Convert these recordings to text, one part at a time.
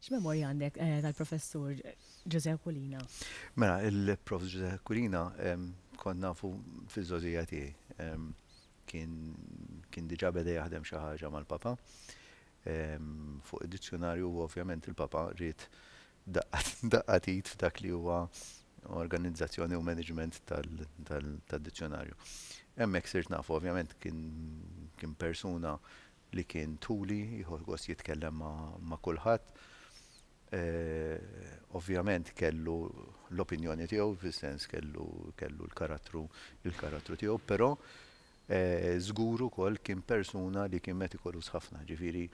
X'memorja għandek eh, tal-professur Ġuże Kulina? Mela, il-prof Ġuże Kulina kont nafu fiż-żożija tiegħi. Kien diġà beda jaħdem xi ħaġa mal-papa. fuq id-dizzjunarju u ovvjament il-Papa ried daqqa t'id f'dak li huwa organizzazzjoni u management tad-dizzjunarju. Hemmhekk sirt nafu, ovvjament kien persuna li kien tuli, jieħu gost jitkellem ma' kulħadd. Ovvjament kellu l-opinjoni tiegħu, fis-sens kellu l-karattru tiegħu, però Żgur ukoll kien persuna li kien metikolus ħafna, ġifieri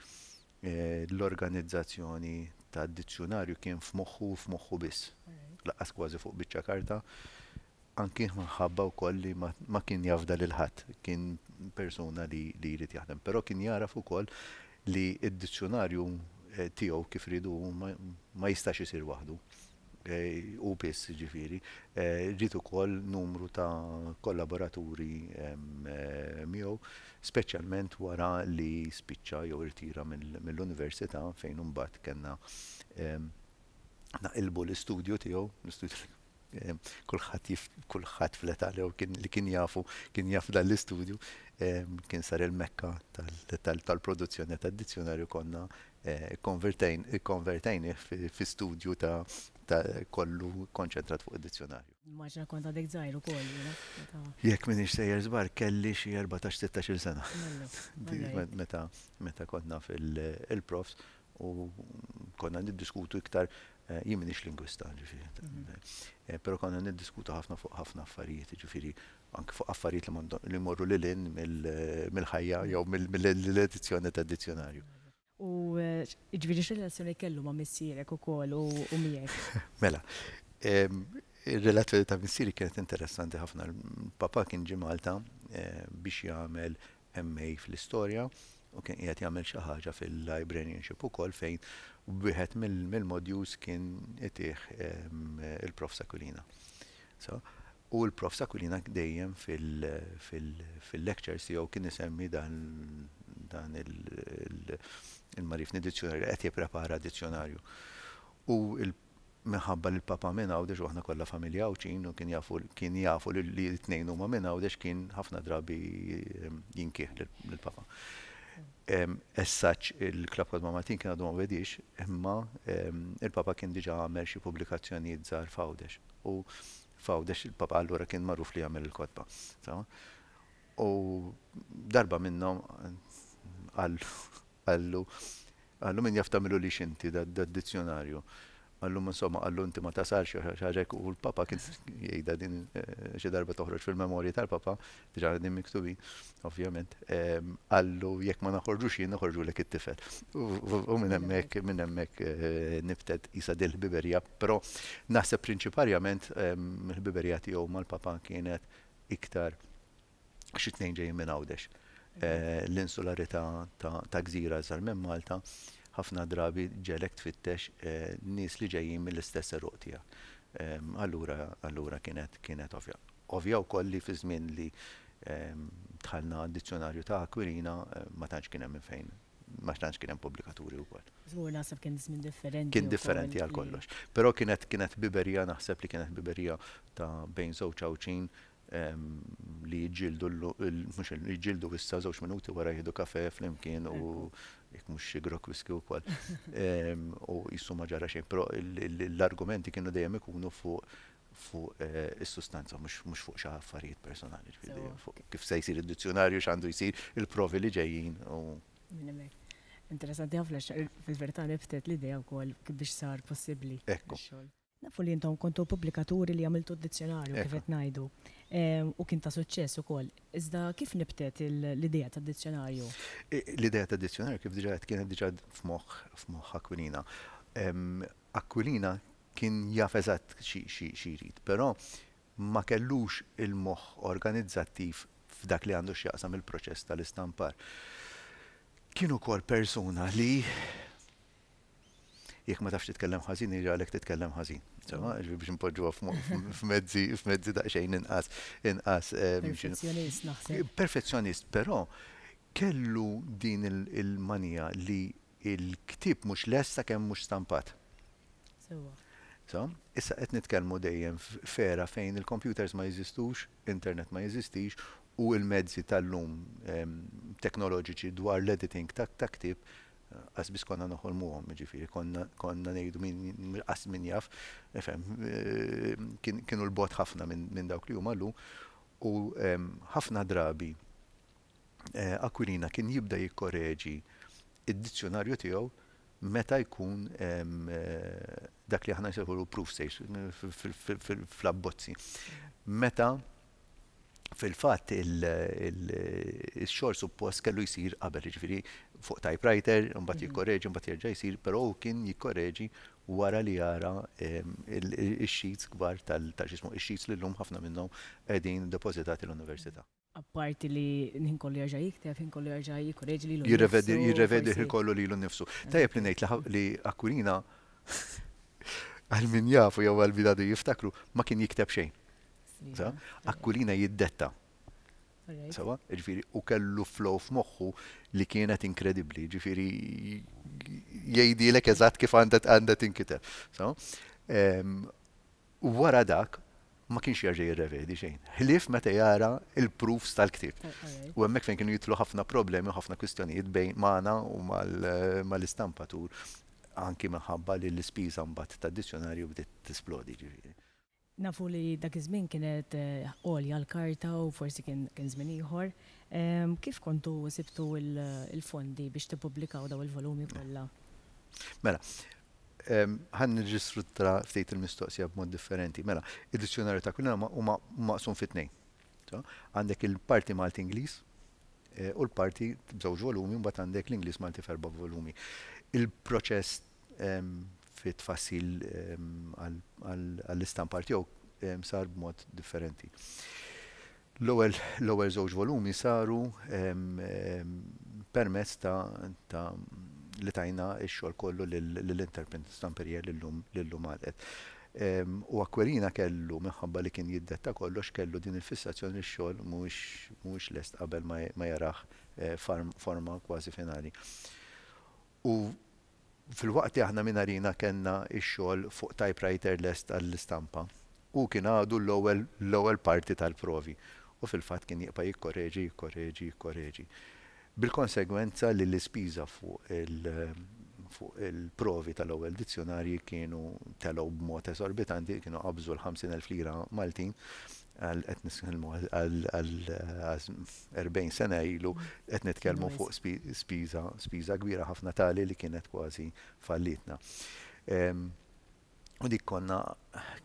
l-organizzazzjoni tad-dizzjunarju kien f'moħħu u f'moħħu biss, lanqas kważi fuq biċċa karta, anki minħabba wkoll li ma kien jafda lil ħadd, kien persuna li jrid jaħdem. Però kien jagħraf ukoll li d-dizzjunarju tiegħu kif riedu hu ma jistax isir waħdu. hu biss jiġifieri, ġiet ukoll numru ta' kollaboraturi miegħu, speċjalment wara li spiċċa jew irtira mill-università fejn imbagħad kellna naqilbu l-istudju tiegħu, l-istudju li kulħadd jif kulħadd fl-età li kien li kien jafu kien jaf dan l-istudju kien sar il-mekka tal-produzzjoni tad-dizzjonarju konna Ikkonvertejnih fi studju ta' kollu kkonċentrat fuq id-dizzjonarju. Nimmaġina kont għadek żgħir ukoll jiena meta. Jekk m'iniex sejjer żball kelli xi erbatax, sittax-il sena. Meta meta konna fil-profs u konna niddiskutu iktar, jien m'iniex lingwista ġifieri, però konna niddiskutu ħafna fuq ħafna affarijiet jiġifieri anke fuq affarijiet li jmorru lil hinn mill-ħajja jew mill-edizzjoni tad-dizzjonarju. U jiġifieri x'relazzjoni kellu ma' missierek ukoll u miegħek? Mela, ir-relazzjoni ta' missieri kienet interessanti ħafna. Papà kien ġie Malta biex jagħmel MA fl-Istorja u kien qiegħed jagħmel xi ħaġa fil-Librarianship ukoll fejn wieħed mill-modules kien itiħ il-Prof. Sakulina. U l-Prof. Aquilina dejjem fil-lectures tiegħu kien isemmi dan il-magħrifni dizzjunarju, qed jipprepara dizzjunarju. U minħabba li l-Papa minn Għawdex u aħna kollha familja Għawdxin u kien jafu li t-tnejn huma minn Għawdex kien ħafna drabi jinkih lill-Papa. As such il-Club Cosma Maltin kien għadu ma bediex imma il-Papa kien diġà għamel xi pubblikazzjonijiet żgħar f'Għawdex. U F'Għawdex il-Papa allura kien magħruf li jagħmel il-kotba. U darba minnhom qallu qallu min jaf tagħmilulix inti dad-dizzjonarju. Qallu insomma qallu inti ma tasalx xaġek u l-Papa kien jgħidha din eh, xi darba toħroġ fil-memorji tal-Papa, diġà din miktubi, ovvjament, ehm, qallu jekk ma naħorġux jien naħorġu lek it-tifel. U minn hemmhekk minn hemmhekk eh, nibtet isa dil-ħbiberja Però naħseb prinċiparjament il-ħbiberija tiegħu mal-Papa kienet iktar għax it-tnejn ġejjin minn Għawdex. L-insularità ta' gżira iżgħar minn Malta ħafna drabi ġegħlek tfittex nies li ġejjin mill-istess għeruq tiegħek. Allura allura kienet kienet ovvja. Ovvja wkoll li fiż-żmien li dħalna għad-Dizzjunarju ta' Aquilina ma tantx kien hemm minn fejn ma tantx kien hemm pubblikaturi wkoll. Żgur naħseb kien żmien differenti. Kien differenti għal kollox. Però kienet kienet biberija naħseb li kienet biberija ta' bejn żewġ għawċin li jġildu mhux jġildu issa żewġ minuti wara jieħdu kafe flimkien u jekk mhux xi grok whisky wkoll. U jissu ma ġara xejn, però l-argumenti kienu dejjem ikunu fuq fuq is-sustanza mhux fuq xi affarijiet personali, ġifieri fuq kif se jsir id-dizzjunarju, x'għandu jsir, il-provi li ġejjin u. Minn hemmhekk. Interessanti ħafna għax fil-verità nibtet l-idea wkoll kif biex sar possibbli x-xogħol. Nafu li intom kontu pubblikaturi li għamiltu d-dizzjunarju kif qed ngħidu u kien ta' suċċess ukoll. Iżda kif nibtet l-idea tad-dizzjunarju? L-idea tad-dizzjunarju kif diġà għedt kienet diġà f'moħħ Aquilina. Aquilina Kien jaf eżatt xi jrid, però ma kellux il-moħħ organizzattiv f'dak li għandu x'jaqsam il-proċess tal-istampar. Kien ukoll persuna li jekk ma tafx titkellem ħażin iralek titkellem ħażin. Insomma, ġifieri biex npoġġuha f'mezzi f'mezzi daqsxejn inqas inqas. Perfezzjonist naħseb. Perfezzjonist, però kellu din il-manija li Il-ktieb mhux lest sakemm mhux stampat. Sewwa. So, issa qed nitkellmu dejjem f'era fejn il-kompjuters ma jeżistux, internet ma jeżistix u l-mezzi tal-lum teknoloġiċi dwar l-editing ta' ktieb qas biss konna noħolmuhom, jiġifieri konna ngħidu min qas min jaf, ifhem, kienu 'l bogħod ħafna minn dawk li huma llum u ħafna drabi Aquilina kien jibda jikkoreġi d-dizzjunarju tiegħu meta jkun dak li aħna nsejħulu proof stage fl-abbozzi. Meta fil-fatt il-xogħol suppost kellu jsir qabel, jiġifieri fuq typewriter, imbagħad jikkoreġi, imbagħad jerġa' jsir, però hu kien jikkoreġi wara li jara x-sheets kbar tal-xismu, x-sheets li llum ħafna minnhom qegħdin depożitati l-università. Apparti li l-ħin kollu jerġa' jikteb, ħin kollu jerġa' jikkoreġi lilu nnifsu. Jirrevedi l-ħin kollu lilu nnifsu. Tajjeb li ngħid li Aquilina, għal min jafu jew għal min għadu jiftakru, ma kien jikteb xejn. Aquilina jiddetta. Sewwa? Jiġifieri hu kellu flow f'moħħu li kienet inkredibbli, jiġifieri jgħidilek eżatt kif għandha tinkiteb. u wara dak ma kienx jerġa' jirrevedi xejn, ħlief meta jara l-proofs tal-ktieb. U hemmhekk fejn kienu jidħlu ħafna problemi u ħafna kwistjonijiet bejn magħna u mal-istampatur anki minħabba li l-ispiża mbagħad tad-dizzjonarju bdiet tisplodi ġifieri. Nafu li dak iż-żmien kienet għolja l-karta u forsi kien żmien ieħor. Kif kontu sibtu l-fondi biex tippubblikaw dawn il-volumi kollha? Mela, Ħa nirristruttra ftit il-mistoqsija b'mod differenti. Mela, id-dizzjonarju ta' kull huma maqsum fi tnejn. Għandek il-parti Malti Ingliż eh, u l-parti b'żewġ volumi mbagħad għandek l-Ingliż Malti f'erba' volumi. Il-proċess fit tfassil għall-istampa tiegħu sar b'mod differenti. L-ewwel żewġ volumi saru permezz ta' li tajna x-xogħol kollu lill-interprint stamperia li llum għalqet. U Aquilina kellu, minħabba li kien jiddetta kollox, kellu din il-fissazzjoni li x-xogħol mhuwiex lest qabel ma jarah forma kważi finali. U filwaqt li aħna minn Arena kellna x-xogħol fuq typewriter lest għall-istampa, hu kien għadu l-ewwel l-ewwel parti tal-provi u fil-fatt kien jibqa' jikkoreġi, jikkoreġi, jikkoreġi. Bil-konsegwenza li l-ispiża fuq il fuq il-provi tal-ewwel dizzjunarji kienu telgħu b'mod esorbitanti, kienu qabżu l-50,000 lira Maltin, għal qed nitkellmu għal 40 sena ilu qed nitkellmu fuq spiża spiża kbira ħafna tali li kienet kważi fallitna. Ehm, u dik konna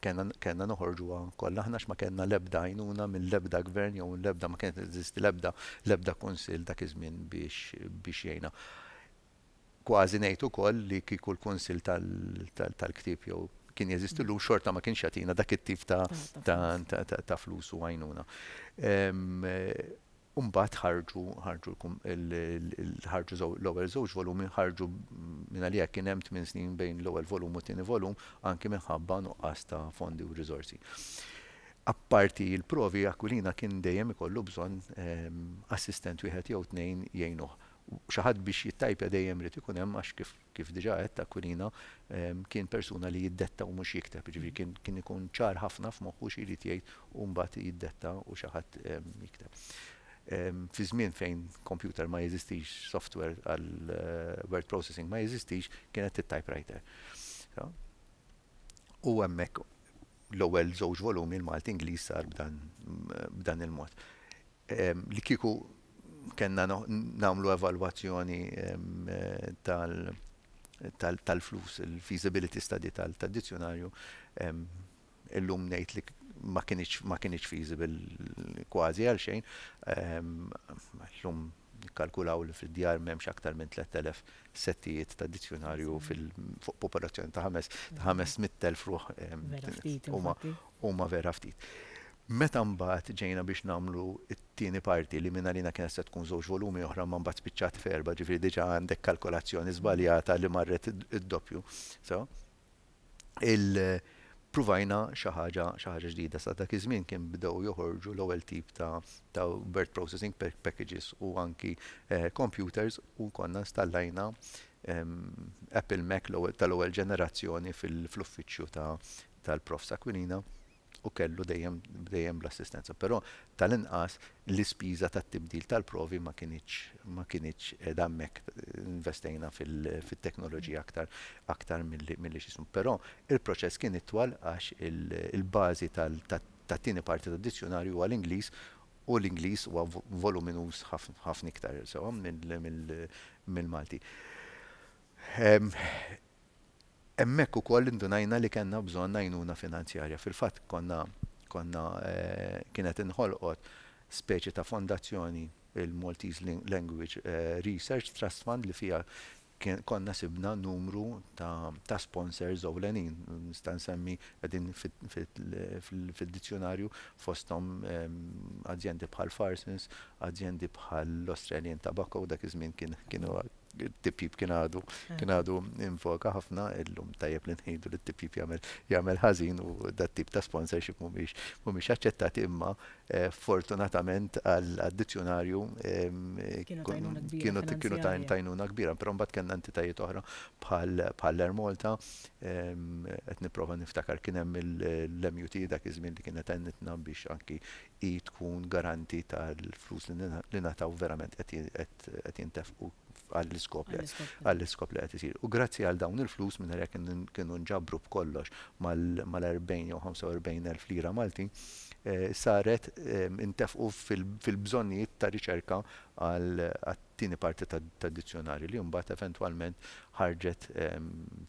kellna noħorġuha kollha aħna x'ma kellna l-ebda għajnuna mill-ebda gvern jew l-ebda ma kienet eżisti l-ebda l-ebda kunsill dak iż-żmien biex biex jgħinna. Kważi ngħid ukoll li kieku l-Kunsill tal-Ktieb jew kien jeżisti llum xorta ma kienx jagħtina dak it-tip ta' flus u għajnuna. U mbagħad ħarġu ħarġu l-ewwel żewġ volumi ħarġu mingħalija kien hemm tmien snin bejn l-ewwel volum u t-tieni volum anki minħabba nuqqas ta' fondi u riżorsi. Apparti l-provi Aquilina kien dejjem ikollu bżonn assistent wieħed jew tnejn jgħinuh. U xi ħadd biex jittajpja dejjem irid ikun hemm għax kif kif diġà għedt Aquilina kien persuna li jiddetta u mhux jikteb, jiġifieri kien kien ikun ċar ħafna f'moħħu xi jrid jgħid u mbagħad jiddetta u xi ħadd jikteb. Fi żmien fejn kompjuter ma jeżistix, software għal word processing ma jeżistix, kienet it-typewriter. U hemmhekk l-ewwel żewġ volumi l-Malti-Ingliż sar b'dan b'dan il-mod. Li kieku kellna nagħmlu evalwazzjoni tal-flus, il-feasibility study tad-dizzjunarju, illum ngħid li ma kinitx feasible kważi għal xejn. Illum nikkalkulaw li fid-djar m'hemmx aktar minn 3,000 settijiet ta' dizzjunarju fuq popolazzjoni ta' 500,000 ruħ. Huma vera ftit. Meta mbagħad ġejna biex nagħmlu t-tieni parti li mingħalina kienet se tkun żewġ volumi oħra imma mbagħad spiċċat f'erbgħa ġifieri diġà għandek kalkolazzjoni żbaljata li marret id-doppju so il-pruvajna xi ħaġa xi ħaġa ġdida. Sa dak iż-żmien kien bdew joħorġu l-ewwel tip ta' ta' word processing packages u anki computers u konna installajna Apple Mac tal-ewwel ġenerazzjoni fil-uffiċċju tal-Profs Aquilina. u kellu dejjem dejjem l-assistenza, però tal-inqas l-ispiża tat-tibdil tal-provi ma kinitx ma kinitx qiegħda hemmhekk investejna fit-teknoloġija aktar aktar milli milli x'ismu. Però l-proċess kien itwal għax il-bażi tat-tieni parti tad-dizzjunarju huwa l-Ingliż u l-Ingliż huwa voluminuż ħafna iktar sewwa mill-Malti. Hemmhekk ukoll indunajna li kellna bżonn għajnuna finanzjarja. Fil-fatt konna konna kienet inħolqot speċi ta' fondazzjoni, il-Maltese Language Research Trust Fund, li fiha konna sibna numru ta' ta' sponsors ewlenin. Nista' nsemmi qegħdin fid-dizzjunarju fosthom azjendi bħal Farsons, azjendi bħall-Australian Tobacco, dak iż-żmien kien kienu Tip-jip kien għadu, eh. kien għadu invoka ħafna illum tajjeb li nħidu li tip-jip jagħmel jagħmel ħażin u dat tip ta' sponsorship mhumiex mhumiex aċċettati imma eh, fortunatament għall-addizzjonarju kienu kienu tajnuna kbira, però mbagħad kellna entitajiet oħra bħal Air Malta qed nipprova niftakar kien hemm l-MUT dak iż-żmien li kienet għennitna biex anki hi tkun garanti tal-flus li ngħataw verament qed jintefqu għall-iskop li qed isir. U grazzi għal dawn il-flus, mingħajr jekk kienu nġabru b'kollox mal-40 jew 45 elf lira Maltin, saret intefqu fil-bżonnijiet ta' riċerka għal Tieni parti tad-dizzjonarju li mbagħad eventwalment ħarġet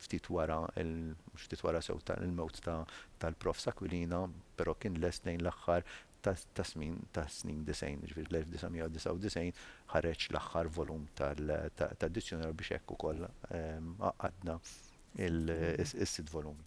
ftit wara, mhux ftit wara sew, il-mewt tal-Profs Aquilina, però kien lest lejn l-aħħar tas-smin tas-snin disgħin, jiġifieri l-1999 ħareġ l-aħħar volum tad-dizzjonarju biex hekk ukoll għaqqadna s-sitt volumi.